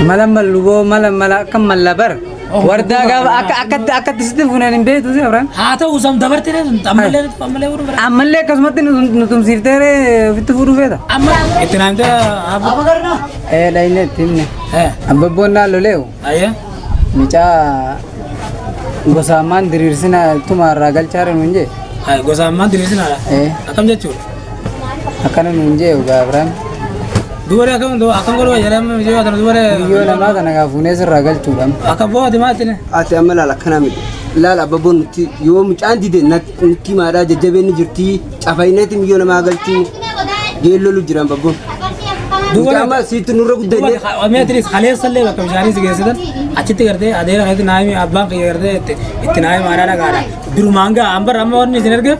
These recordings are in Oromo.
Mala malluboo mala mala akka malla bar. Wardaa gaafa akka akkatti akkatti sitti fuuneen hin beektu si Abraan. Haa ta'u sam dabarte ne sun ammallee nuti ammallee warra bira. Ammallee akkasumatti nu nu tumsiiftee ree ofitti fuudhuu feeta. Amma itti naan gara abu. Ee dhayne itti himne. Eh. Abbabboon naa loleewu. Ayya. Mucaa gosaamaan diriirsinaa tumaa irraa galchaa ree nuun jee. Gosa ammaan diriirsinaadha. Ee. Akkam jechuudha. akkana nuun jee dhugaa Abiraam. Dubaree akkam akkam godhuu jedhama mijoota tana dubaree. Biyyoo namaa kana kaa fuunee sirraa galchuudhaan. Akka booti maatine. Ati amma laala akkana miti. Laala abbabboon nuti yoo mucaan dide nuti maadhaa jajjabeen ni jirti. Cafayinati miyyoo namaa galchuu geellolu jira abbabboon. Mucaa amma siitti nurra guddannee. Meetiris kaleessa illee bakka bishaanii si geessitan achitti gartee adeera keessatti naayimii abbaan kiyya gartee itti naayimii maadhaa dhagaadha. Durumaan ga'a amma amma wanni isin ergeef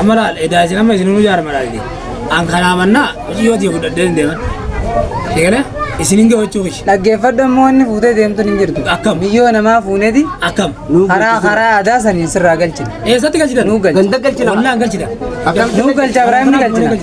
Amma laal edaa isin amma isin hunduu jaarama laalti. An kanaa mannaa hojii yoo ta'e fudhadhee hin deeman. Eegale isin hin gahachuu kishi. Dhaggeeffadhu immoo inni fuutee deemtuun hin jirtu. Akkam? Miyyoo namaa fuuneeti Akkam? karaa karaa aadaa saniin sirraa galchina. Eessatti galchitan? Nuu galcha. Ganda galchina. Wallaan galchita. Nuu galcha biraa inni galchina.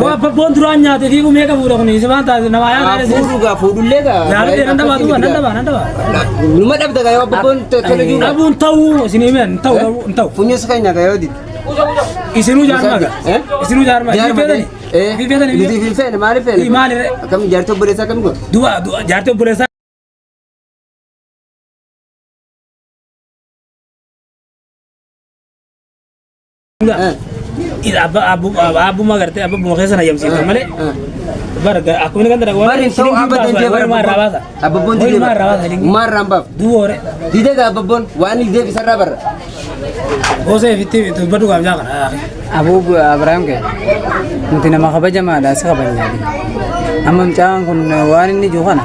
Koo abbabboon duraan nyaate fi umee qabuudha kun isa waan taate namaa yaa taate Fuudhu gaa fuudhullee gaa. Yaalotee nan dabaa duuba nan dabaa nan dabaa. Numa dhabda gaa yoo abbabboon tole jiru. Dhabuun ta'uu isin himeen hin ta'u dhabuu hin ta'u. Funyuus keenya gaa yoo dide. Isinuu jaarmaa gaa. Eh? Isinuu jaarmaa. Jaarma Biifeetani. ta'e. Eh. Biifeetani. Nuti hin feene maaliif feene? Eh, maali re? Akkam jaartii obboleessaa akkam godhu? Du'a du'a jaartii obboleessaa. Abba abbuma gartee abba buma keessa na yamsiifta malee. Barga akkuma inni ganda dhaqu. Barri hin ta'u abba dandee bara Maal raabaasa? Abbabboon Wayii didee maal raabaasa? bara. Maal raambaaf? Duwoore. Didee gaa abbabboon waan inni deebi sarara barra. Gosa fitti tubba dhugaaf jaa kana. Abuu Abiraam kee nuti nama kabajamaadha si kabajna. Amma mucaan kun waan inni jiru kana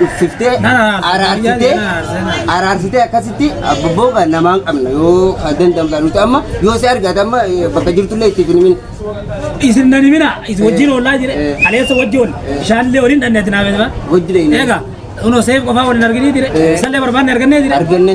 dhuffiftee araarsitee araarsitee akkasitti abbooga namaan qabna yoo ka danda'amudha nuti amma yoo si argate amma eh, bakka jirtullee itti hin himin isin nan himina isin wajjin oolaa jire Eh. kaleessa wajji ol bishaanillee waliin dhanneetti naa beekama hojii dha inni eega unoo seef qofaa waliin arginii jire Eh. isallee barbaanne argannee jire arganne.